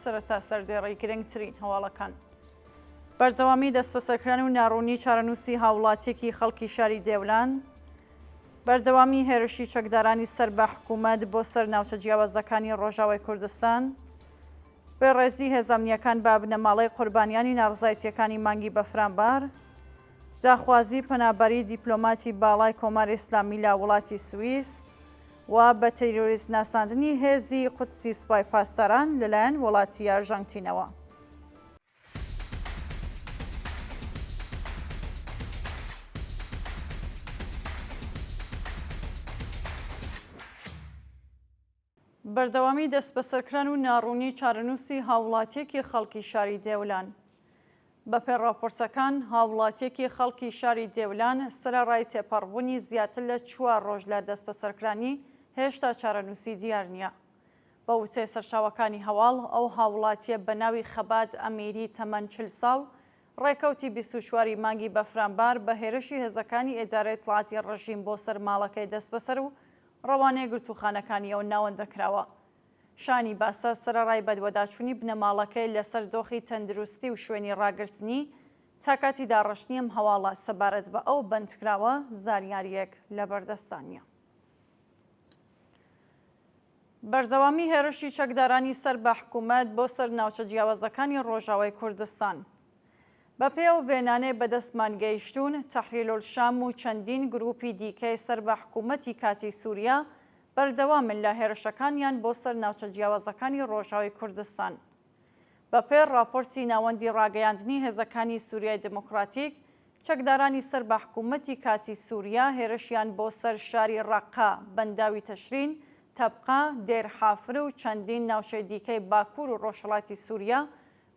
سەرەتا سەردێڕی گرنگترین هەواڵەکان. بەردەوامی دەستبەسەرکران و ناڕوونی چارەنووسی هاوڵاتیەکی خەڵکی شاری دێولان، بەردەوامی هێرشی چەکدارانی سەر بە حکوومەت بۆ سەر ناوچە جیاوازەکانی ڕۆژاوای کوردستان، بێڕێزی هێزامنیەکان بە بنەماڵەی قوربانیانی ناڕزایتیەکانی مانگی بەفرانبار، داخوازی پەنابەری دیپلۆماتی باڵای کۆماری ئیسلامی لە وڵاتی سویس و بە تیرۆریست ناساندنی هێزی قودسی سپای پاسداران لەلایەن وڵاتی ئارژانتینەوە. بەردەوامی دەستبەسەرکران و ناڕوونی چارەنووسی هاووڵاتییەکی خەڵکی شاری دێولان. بەپێ ڕاپۆرتەکان، هاووڵاتییەکی خەڵکی شاری دێولان سەرەڕای تێپەڕبوونی زیاتر لە چوار ڕۆژ لە دەستبەسەرکرانی، هێشتا چارەنووسی دیار نییە. بە وتەی سەرچاوەکانی هەواڵ، ئەو هاووڵاتییە بە ناوی خەبات ئەمیری تەمەن چل ساڵ، ڕێکەوتی بیست و چوار ی مانگی بەفرانبار بە هێرشی هێزەکانی ئێدارەی ئیتڵاعاتی ڕژیم بۆ سەر ماڵەکەی دەستبەسەر و ڕەوانەی گرتووخانەکانی ئەو ناوەندە کراوە. شانی باسە سەرەڕای بەدوەداچوونی بنەماڵەکەی لەسەر دۆخی تەندروستی و شوێنی ڕاگرتنی، تا کاتی داڕشتنی ئەم هەواڵە سەبارەت بە ئەو بەندکراوە زانیارییەک لەبەردەستدا نییە. بەردەوامی هێرشی چەکدارانی سەر بە حکوومەت بۆ سەر ناوچە جیاوازەکانی ڕۆژاوای کوردستان، بە پێی ئەو وێنانەی بەدەستمان گەیشتوون، تەحریر الشام و چەندین گرووپی دیکەی سەر بە حکوومەتی کاتیی سووریا بەردەوامن لە هێرشەکانیان بۆ سەر ناوچە جیاوازەکانی ڕۆژاوای کوردستان. بە پێی ڕاپۆرتی ناوەندی ڕاگەیاندنی هێزەکانی سووریای دیموکراتیک، چەکدارانی سەر بە حکوومەتی کاتیی سووریا هێرشیان بۆ سەر شاری ڕەققە، بەنداوی تەشرین، تەبقا، دێر حافر و چەندین ناوچەی دیکەی باکوور و ڕۆژهەڵاتی سووریا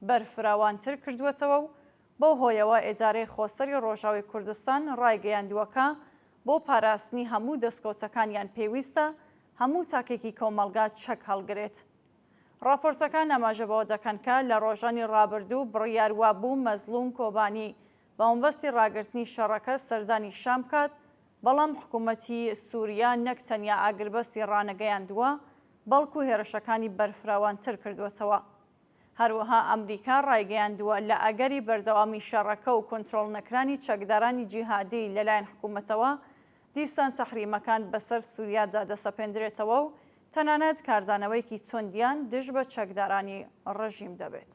بەرفراوانتر کردووەتەوە و بەو هۆیەوە ئێدارەی خۆسەری ڕۆژاوی کوردستان ڕایگەیاندووە کە بۆ پاراستنی هەموو دەستکەوتەکانیان پێویستە هەموو تاکێکی کۆمەڵگا چەک هەڵگرێت. ڕاپۆرتەکان ئاماژە بەوە دەکەن کە لە ڕۆژانی ڕابردوو بڕیار وابوو مەزڵوم کۆبانی بە مەبەستی ڕاگرتنی شەڕەکە سەردانی شام بکات، بەڵام حکوومەتی سووریا نەک تەنیا ئاگربەستی ڕانەگەیاندووە، بەڵکوو هێرشەکانی بەرفراوانتر کردووەتەوە. هەروەها ئەمریکا ڕایگەیاندووە، لە ئەگەری بەردەوامی شەڕەکە و کۆنترۆڵ نەکرانی چەکدارانی جیهادی لەلایەن حکومەتەوە، دیسان تەحریمەکان بەسەر سوریادا دەسەپێندرێتەوە و تەنانەت کاردانەوەیەکی توندیان دژ بە چەکدارانی ڕژیم دەبێت.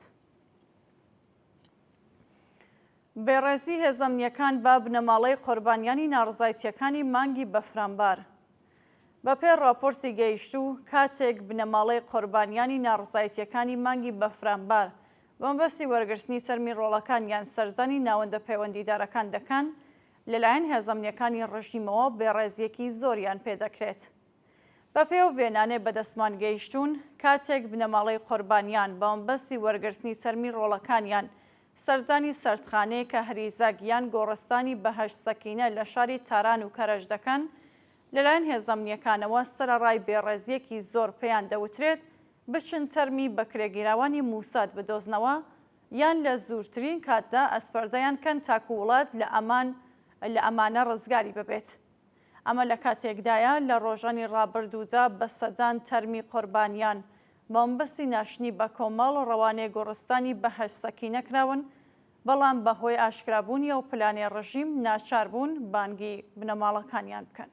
بێڕێزی هێزەمنیەکان بە بنەماڵەی قۆربانیانی ناڕزایتیەکانی مانگی بەفرانبار. بەپێی ڕاپۆرتی گەیشتوو، کاتێک بنەماڵەی قۆربانیانی ناڕەزایتییەکانی مانگی بەفرانبار بەمەبەستی وەرگرتنی سەرمی ڕۆڵەکانیان سەردانی ناوەندە پەیوەندیدارەکان دەکەن، لەلایەن هێزە ئەمنییەکانی ڕژیمەوە بێڕێزییەکی زۆریان پێ دەکرێت. بەپێی ئەو وێنانەی بەدەستمان گەیشتوون، کاتێک بنەماڵەی قۆربانیان بەمەبەستی وەرگرتنی سەرمی ڕۆڵەکانیان سەردانی سەردخانەی کەهریزەک یان گۆڕستانی بەهەشت سەکینە لە شاری تاران و کەرەج دەکەن، لەلایەن هێزە ئەمنییەکانەوە سەرەڕای بێڕێزییەکی زۆر پێیان دەوترێت بچن تەرمی بەکرێگیراوانی موساد بدۆزنەوە یان لە زوورترین کاتدا ئەسپەردەیان کەن تاکو وڵات لە ئەمان لە ئەمانە ڕزگاری ببێت. ئەمە لە کاتێکدایە لە ڕۆژانی ڕابردوودا بە سەدان تەرمی قۆربانیان مامبەستی ناشتنی بە کۆمەڵ ڕەوانەی گۆڕستانی بەهەشت سەکینە کراون، بەڵام بە هۆی ئاشکرا بوونی ئەو پلانەی ڕژیم ناچار بوون بانگی بنەماڵەکانیان بکەن.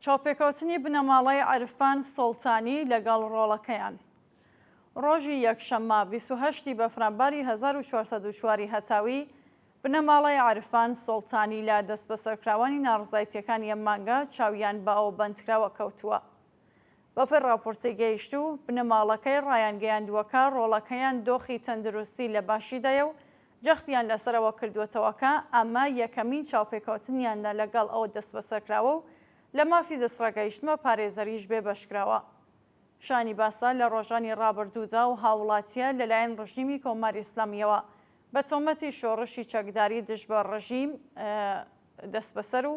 چاوپێکەوتنی بنەماڵەی عرفان سوڵتانی لەگەڵ ڕۆڵەکەیان ڕۆژی یەکشەممە بیست و هەشت ی بەفرانباری هەزار و چوار سەد و چوار ی هەتاوی بنەماڵەی عرفان سوڵتانی لە دەستبەسەرکراوانی ناڕەزایتیەکانی ئەم مانگە چاویان بە ئەو بەندکراوە کەوتووە. بەپێی ڕاپۆرتی گەیشتوو، بنەماڵەکەی ڕایانگەیاندووەکە ڕۆڵەکەیان دۆخی تەندروستی لە باشیدایە و جەختیان لەسەرەوە کردووەتەوە کە ئەمە یەکەمین چاوپێکەوتنیانە لەگەڵ ئەو دەستبەسەرکراوە و لە مافی دەستڕاگەیشتنوە پارێزەریش بێبەشکراوە. شایانی باسە لە ڕۆژانی ڕابردوودا ئەو هاوڵاتییە لەلایەن ڕژیمی کۆماری ئیسلامییەوە بە تۆمەتی شۆڕشی چەکداری دژ بە ڕژیم دەستبەسەر و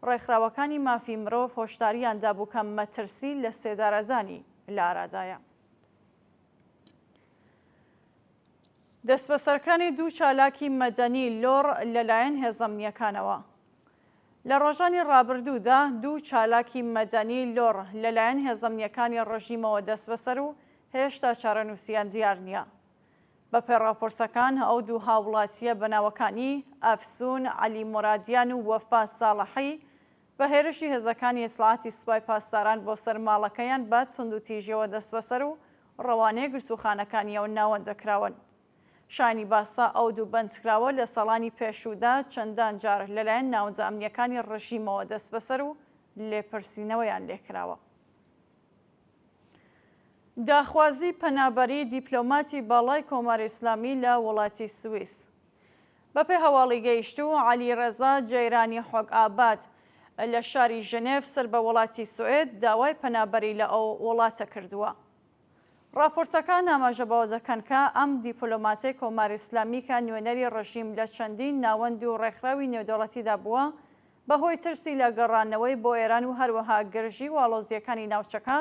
ڕێکخراوەکانی مافی مرۆڤ هۆشدارییان دابوو کە مەترسی لەسێدارەدانی لە ئارادایە. دەستبەسەرکرانی دوو چالاکی مەدەنی لۆڕ لەلایەن هێزە ئەمنییەکانەوە. لە ڕۆژانی ڕابردوودا دوو چالاکی مەدەنی لۆڕ لەلایەن هێزە ئەمنییەکانی ڕژیمەوە دەستبەسەر و هێشتا چارەنووسیان دیار نییە. بەپێ ڕاپۆرتەکان ئەو دوو هاوڵاتییە بە ناوەکانی، ئەفسوون عەلی مۆرادیان و وەفا ساڵحی، بە هێرشی هێزەکانی ئیتلاعاتی سوپای پاسداران بۆ سەر ماڵەکەیان بە توندوتیژیەوە دەستبەسەر و ڕەوانەی گرتووخانەکانییەوە ناوەندە کراون. شایانی باسە ئەو دوو بەندکراوە لە ساڵانی پێشوودا چەندان جار لەلایەن ناوەندە ئەمنییەکانی ڕژیمەوە دەستبەسەر و لێپرسینەوەیان لێکراوە. داخوازی پەنابەری دیپلۆماتی باڵای کۆماری ئیسلامی لە وڵاتی سویس. بەپێ هەواڵی گەیشتوو، عەلی ڕەزا جەیرانی حۆک ئاباد لە شاری ژنێڤ سەر بە وڵاتی سوئێد داوای پەنابەری لە ئەو وڵاتە کردووە. ڕاپۆرتەکان ئاماژە بەوە دەکەن کە ئەم دیپلۆماتەی کۆماری ئیسلامی کە نوێنەری ڕژیم لە چەندین ناوەند و ڕێکخراوی نێودەوڵەتیدا بووە، بەهۆی ترسی لە گەڕانەوەی بۆ ئێران و هەروەها گرژی و ئاڵۆزییەکانی ناوچەکە،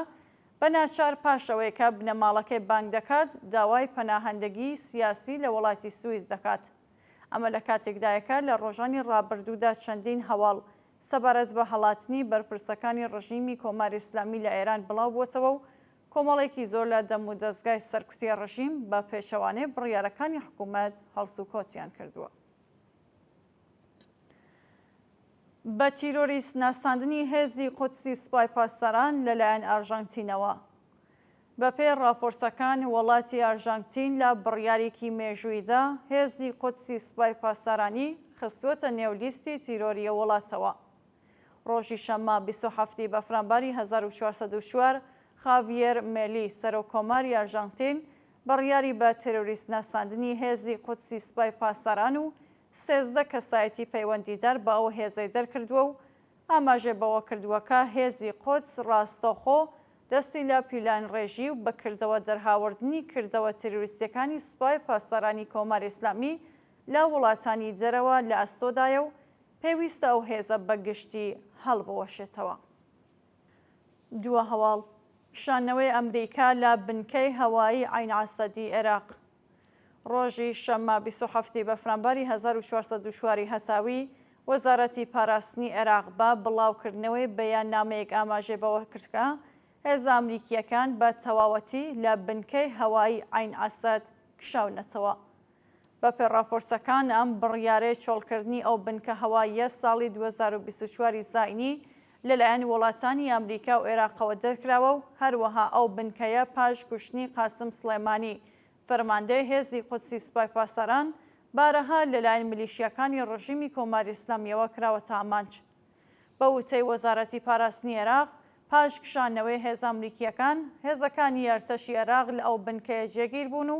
بە ناچار پاش ئەوەی کە بنەماڵەکەی بانگ دەکات، داوای پەناهەندەگی سیاسی لە وەڵاتی سویس دەکات. ئەمە لە کاتێکدایە کە لە ڕۆژانی ڕابردوودا چەندین هەواڵ سەبارەت بە هەڵاتنی بەرپرسەکانی ڕژیمی کۆماری ئیسلامی لە ئێران بڵاو بۆتەوە و کۆمەڵێکی زۆر لە دەمودەزگای سەرکوتی ڕژیم بە پێچەوانەی بڕیارەکانی حکوومەت هەڵسوکەوتیان کردووە. بە تیرۆریست ناساندنی هێزی قودسی سپای پاسداران لەلایەن ئارژانتینەوە بەپێی ڕاپۆرتەکان وەڵاتی ئارژانتین لە بڕیارێکی مێژوویدا هێزی قودسی سپای پاسدارانی خستووەتە نێو لیستی تیرۆریە وڵاتەوە ڕۆژی شەممە 27 بەفرانباری 1404 خاڤیێر مێلی سەرۆک کۆماری ئارژانتین بڕیاری بە تێرۆریست ناساندنی هێزی قودسی سپای پاسداران و سێزدە کەسایەتی پەیوەندیدار بە ئەو هێزەی دەرکردووە و ئاماژەی بەوە کردووە کە هێزی قودس ڕاستەوخۆ دەستی لە پیلانڕێژی و بە کردەوە دەرهاوردنی کردەوە تێرۆریستیەکانی سپای پاسدارانی کۆماری ئیسلامی لە وڵاتانی دەرەوە لە ئەستۆدایە و پێویستە ئەو هێزە بە گشتی هەڵبوەشێتەوە. دووە هەواڵ، کشانەوەی ئەمریکا لە بنکەی هەوایی عەین عەسەدی عێراق ڕۆژی شەممە بیست و حەفت ی بەفرانباری هەزار و چوار سەد و چوار ی هەساوی، وەزارەتی پاراستنی عێراق بە بڵاوکردنەوەی بەیاننامەیەک ئاماژەی بەوەکرد کە هێزە ئەمریکییەکان بە تەواوەتی لە بنکەی هەوایی عەین عەسەد کشاونەتەوە. بەپێ ڕاپۆرتەکان ئەم بڕیارەی چۆڵکردنی ئەو بنکە هەواییە ساڵی دوو هەزار و بیست و چوار ی زاینی لەلایەن وڵاتانی ئەمریکا و ئێراقەوە دەرکراوە و هەروەها ئەو بنکەیە پاش کوشتنی قاسم سڵێمانی فەرماندەی هێزی قودسی سپای پاسەران بارەها لەلایەن ملیشیاکانی ڕژیمی کۆماری ئیسلامیەوە کراوەتە ئامانج. بە وتەی وەزارەتی پاراستنی ئێراق، پاش کشانەوەی هێزە ئەمریکییەکان، هێزەکانی ئەرتەشی ئێراق لە ئەو بنکەیە جێگیر بوون و